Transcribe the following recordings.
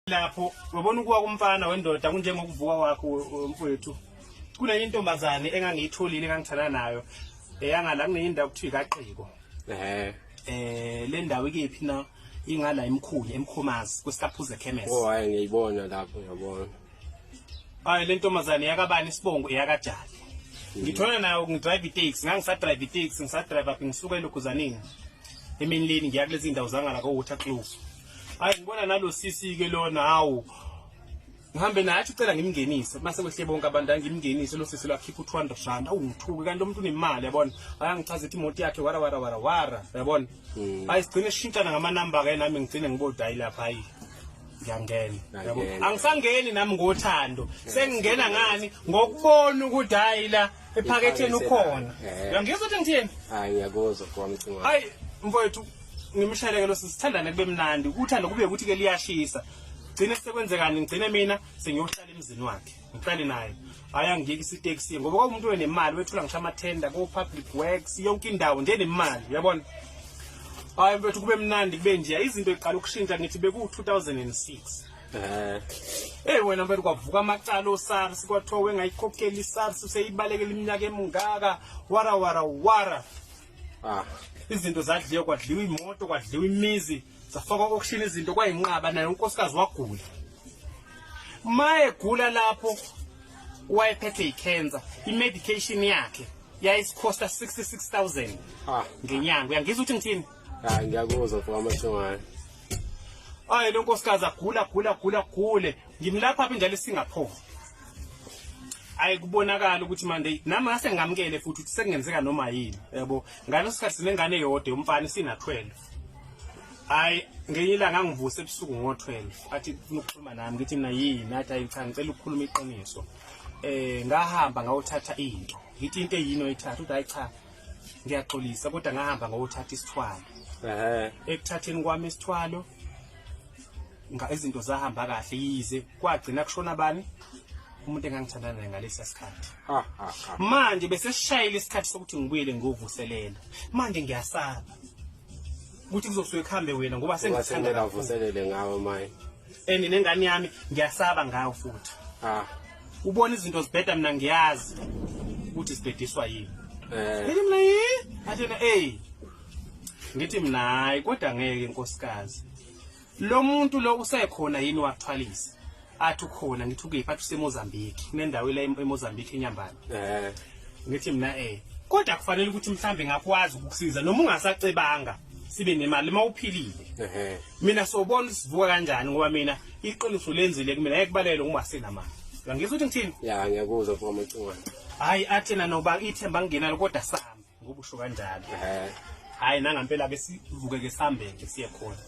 lapho wabona ukuwa kumfana wendoda kunjengokuvuka wakho mfowethu kunenye intombazane engangiyitholile engangithanda nayo eyangala kunenye indawo kuthiwa ikaqiko eh eh le ndawo ikephi na ingala emkhulu emkhomazi kwesitaphuze chemist oh hayi ngiyibona lapho ngiyabona hayi le ntombazane yakabani isibongo eyakajali hmm. ngithona nayo ngidrive itaxi ngangisadrive itaxi ngisadrive aphi ngisuka eluguzaneni emini leni ngiya kulezi ndawo zangala ko water close hayi ngibona nalo sisi ke lona hawu ngihambe naye athi ucela ngimngenise mase kwehle bonke abantu angimngenise lo sisi lwakhipha u200 rand awungithuki kanti umuntu unemali yabona ayangichaza ithi imoto yakhe wara wara wara wara yabona hmm. ayi sigcine sishintshana ngama number ke nami ngigcine ngibodayi lapha hayi ngiyangena yabo angisangeni nami ngothando sengingena ngani ngokubona ukuthi hayi la ephaketheni ukhona uyangizwa ukuthi ngithini hayi ngiyakuzwa kwami cinga hayi mfowethu ngimshayeleke lo sisithandane kube mnandi uthando kube ukuthi ke liyashisa gcine sekwenzekani ngigcine mina sengiyohlala emzini wakhe ngihlale naye hayi angiyeki isiteksi ngoba kwakumuntu wenemali wethula ngisho amathenda ko-public works yonke indawo nje nemali uyabona hayi mfethu kube mnandi kube nje izinto iqala ukushintsha ngithi beku-2006 eh. eyi wena mfethu kwavuka amacala osars kwathiwa wengayikhokheli isars seyibalekela iminyaka emingaka wara wara wara ah izinto zadliwa kwadliwa imoto kwadliwa imizi zafakwa auction izinto kwayinqaba naye unkosikazi wagula maye gula lapho wayephethe icancer imedication yakhe yayisikhosta 66000 ah ngenyanga uyangizwa ukuthi ngithini hayi ngiyakuzwa mfowethu amashongane ayi lo nkosikazi agula gula gula gule ngimlapha phi njalo isingaphova ayi kubonakala ukuthi manje nami ngase ngamkele futhi ukuthi sekungenzeka noma yini yabo ngaleso sikhathi sinengane eyodwa umfana sina 12 hayi ngenye ilanga ngivuse ebusuku ngo-12 athi funa ukukhuluma nami ngithi mina yini athi ayi cha ngicela ukukhuluma iqiniso eh ngahamba ngawuthatha into ngithi into eyini oyithatha uthi hayi cha ngiyaxolisa kodwa ngahamba ngawuthatha isithwalo ehe ekuthatheni kwami isithwalo nga izinto zahamba kahle yize kwagcina kushona bani umuntu engangithandana naye ngalesi sikhathi manje bese sishayile isikhathi sokuthi ngibuyele ngovuselela manje ngiyasaba ukuthi kuzosuke kuhambe wena ngoba sengithandana vuselele ngawe maye and nengane yami ngiyasaba ngayo futhi ah ubona izinto zibheda mina ngiyazi ukuthi sibhediswa yini eh ngithi mina yi athena hey ngithi mina hayi kodwa ngeke inkosikazi Lo muntu lo usekhona yini wathwalisa? Athi ukhona ngithi ukephi athi useMozambique. Kunendawo la eMozambique eNyambane. Eh. Ngithi mina eh kodwa kufanele ukuthi mhlambe ngakwazi ukukusiza noma ungasacebanga sibe nemali uma uphilile. Ehhe. Mina sobona sivuka kanjani ngoba mina iqiniso lenzile kumina ngeke kubalele ngoba sinamali. Ngizwe ukuthi ngithini? Ya ngiyakuzwa mfowethu Mcingwane. Hayi athena noba ithemba nginalo kodwa sami. ngoba usho kanjalo hayi nangampela ke sivuke ke sambe ke siye khona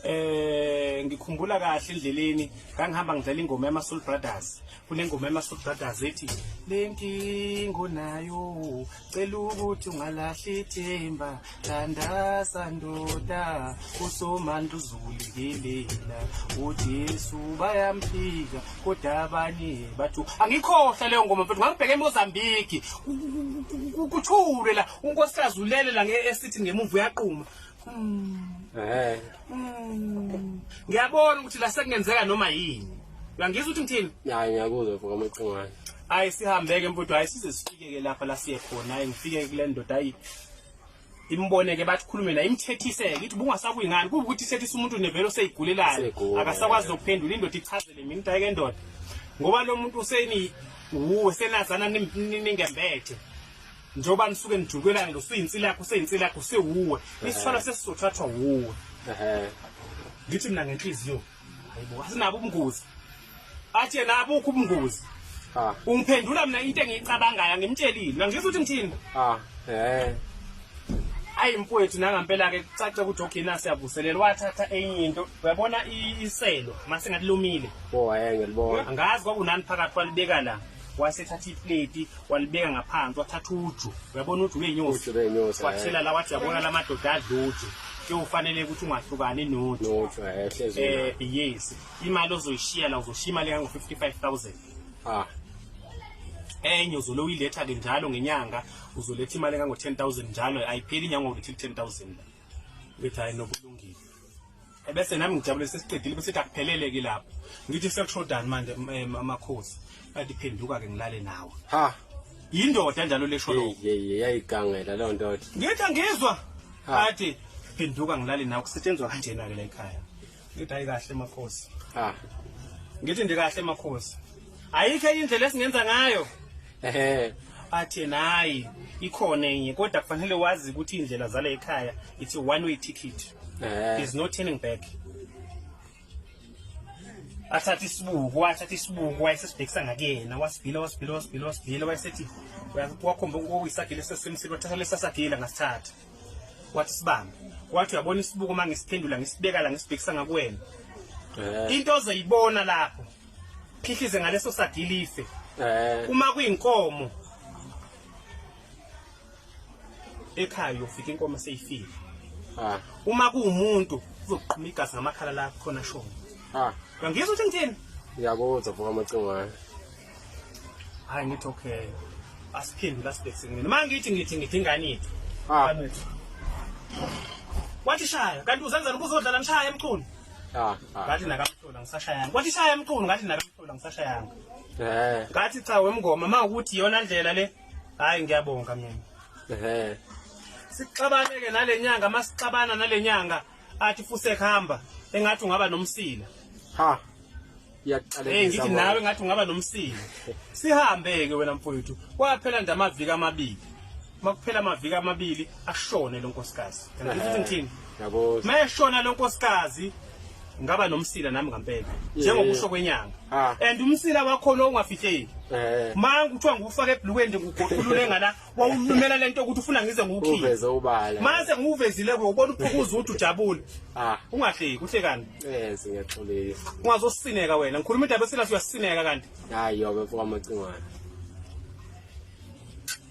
eh ngikhumbula kahle endleleni ngangihamba ngidlala ingoma yama Soul Brothers kunengoma yama Soul Brothers ethi lenkingo nayo cela ukuthi ungalahli ithemba thandaza ndoda usomandla uzulikilela uJesu bayamphika kodwa abanye bathi angikhohlwa leyo ngoma mfethu ngangibheke emozambiki kuthule la unkosikazi ulele la nge-esitini ngemumva uyaquma hmm. eh. hmm. ngiyabona ukuthi la sekungenzeka noma yini uyangizwa ukuthi ngithini hayi ngiyakuzwa mfo kamaqingwane hayi sihambeke mfowethu hayi size sifike-ke lapha la siye khona hayi ngifike kule ndoda hayi imboneke bathi khulume la imthethiseke ithi bungasakuyi ngani kuba ukuthi ithethisa umuntu nevelo seyigulelayo akasakwazi nokuphendula indoda ichazele mina into endoda ngoba lo muntu useni wuwe senazana ningembethe njengoba nisuke nijukelana lo suyinsila yakho useyinsila yakho sewuwe isithwalo sesizothathwa wuwe ngithi mina ngenhliziyo hayibo asinabo ubungozi athe nabukho ubungozi ah. ungiphendula mina into engiyicabangayo angimtshelile nangizwa ukuthi ngithini ah eh ayi mfowethu nangampela ke kucace ukuthi ogcina siyavuselela wathatha enye into uyabona iselo masingathi lumile oh hayi ngiyalibona angazi kwakunani phakathi kwalibeka la wasethatha ipleti walibeka ngaphansi wathatha uju uyabona uju benyosi wathela la wathi yabona la madoda adla uju kuyofanele ukuthi ungahlukani noju eh yes imali ozoyishiya la uzoshiya imali yango 55000 ah enye uzolo uyiletha ke njalo ngenyanga uzoletha imali engango 10000 njalo ayipheli inyanga ngokuthi 10000 bethi hayi nokulungile ebese nami ngijabule sesiqedile bese sithi akuphelele ke lapho ngithi sekushodani manje eh, amakhosi bathi phenduka ke ngilale nawe ha yindoda njalo lesho lo yayigangela leyo ndoda ngithi angizwa athi phenduka ngilale nawe kusetshenzwa kanjena ke la ekhaya ngithi hayi kahle makhosi ha ngithi ndikahle makhosi ayikho indlela esingenza ngayo ehe athi nayi ikhona enye kodwa kufanele wazi ukuthi indlela zala ekhaya it's a one way ticket eh. there's no turning back athatha isibuko wathatha isibuko wayesesibhekisa ngakuyena wasibhila wasibhila wasibhila wasibhila wayesethi wakhomba uyisagile sesemsile wathatha lesasagila ngasithatha wathi sibambe wathi uyabona isibuko uma ngisiphendula ngisibeka la ngisibhekisa ngakuwena eh. into ozoyibona lapho phihlize ngaleso sagilife eh. uma kuyinkomo ekhaya uyofika inkomo seyifile ah. uma kuwumuntu uzoqhuma igazi ngamakhala la khona shona ah. uyangizwa ukuthi ngithini ngiyakuzwa vuka amacingwane hayi ngithi okay asiphinde lasibhekisini noma ngithi ngithi ngithi ingane yethu ah. wathi shaya kanti uzenzela ukuzodlala nishaya emchunu Ah, ah. ngathi nakamhlola ngisashayanga kwathi shaya mqulu ngathi nakamhlola ngisashayanga eh ngathi cha wemngoma ma ukuthi yona ndlela le hayi ngiyabonga mina eh sixabane ke nalenyanga masixabana nalenyanga athi fusek hamba engathi ungaba nomsila ha Eh ngithi nawe ngathi ungaba nomsili. Sihambe ke wena mfowethu. Kwaphela nje amaviki amabili. Makuphela amaviki amabili ashone lo nkosikazi. Ngithi eh, ngithini? Yabo. Mayeshona lo nkosikazi ngaba nomsila nami ngampela njengokusho kwenyanga ah. and umsila wakho lo ungafihleki eh. manje kuthiwa ngufaka ebhlukweni nje ngugoqulule ngala wawulumela lento ukuthi ufuna ngize ngikukhiphe uveze ubala mase ngiwuvezile ke ubona uphukuza ukuthi ujabule ah ungahleki uhlekani yes ngiyaxolile ungazosineka wena ngikhuluma indaba esilahle uyasineka kanti hayi yobe mfoka macingwana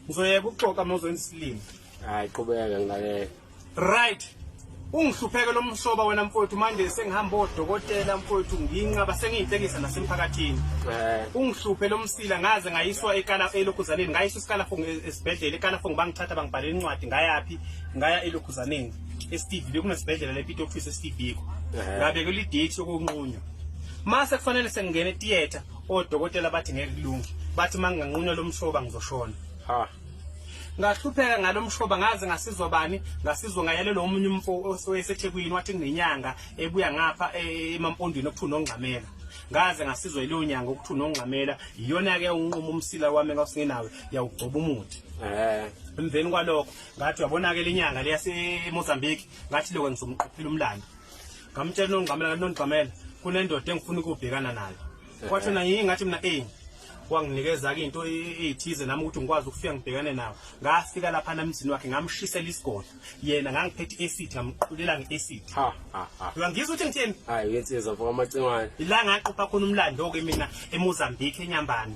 ngizoyeka ukuxoxa mawuzoyenza isilimo hayi qhubeka ngilalele Right. Ungihlupheke lo msoba wena mfowethu manje sengihamba odokotela mfowethu nginqaba sengiyinhlekisa nasemphakathini. Eh. Ungihluphe lo msila ngaze ngayiswa ekala elokhuzaneni ngayiswa isikala fong e- esibhedlela ekala fong bangithatha bangibhalela incwadi ngayaphi ngaya elokhuzaneni eSteve bekunesibhedlela lePito office eSteve ko. Eh. Ngabeka le date yokunqunywa. Mase kufanele sengingene theater odokotela bathi ngeke kulunge. Bathi manginganqunywa lo msoba ngizoshona. Ha. ngahlupheka ngalo mshoba ngaze ngasizwa bani ngasizwa ngayalelwa omunye umfo osethekwini wathi nginenyanga ebuya ngapha e, emampondweni okuthiwa nongxamela ngaze ngasizwa yileyo nyanga okuthiwa unongxamela iyona-ke unquma umsila wami engasingenawe yawugcoba umuthi eh. emveni kwalokho ngathi uyabona-ke le nyanga leyasemozambique ngathi lokho ngizomqophela umlando ngamtshela unongxamela kanti nongxamela kunendoda engifuna ukubhekana nayo eh. kwathi na yingathi mina eyi wanginikeza-ke into eyithize nami ukuthi ngikwazi ukufika ngibhekane nawo ngafika lapha namzini wakhe ngamshisela isigodlo yena ngangiphethe i-acid ngamqulela nge-acid uyangizwa ukuthi ngitheni hayi uyensizwa for amacingwane ila ngaqopha khona umlando-ke mina emozambique enyambane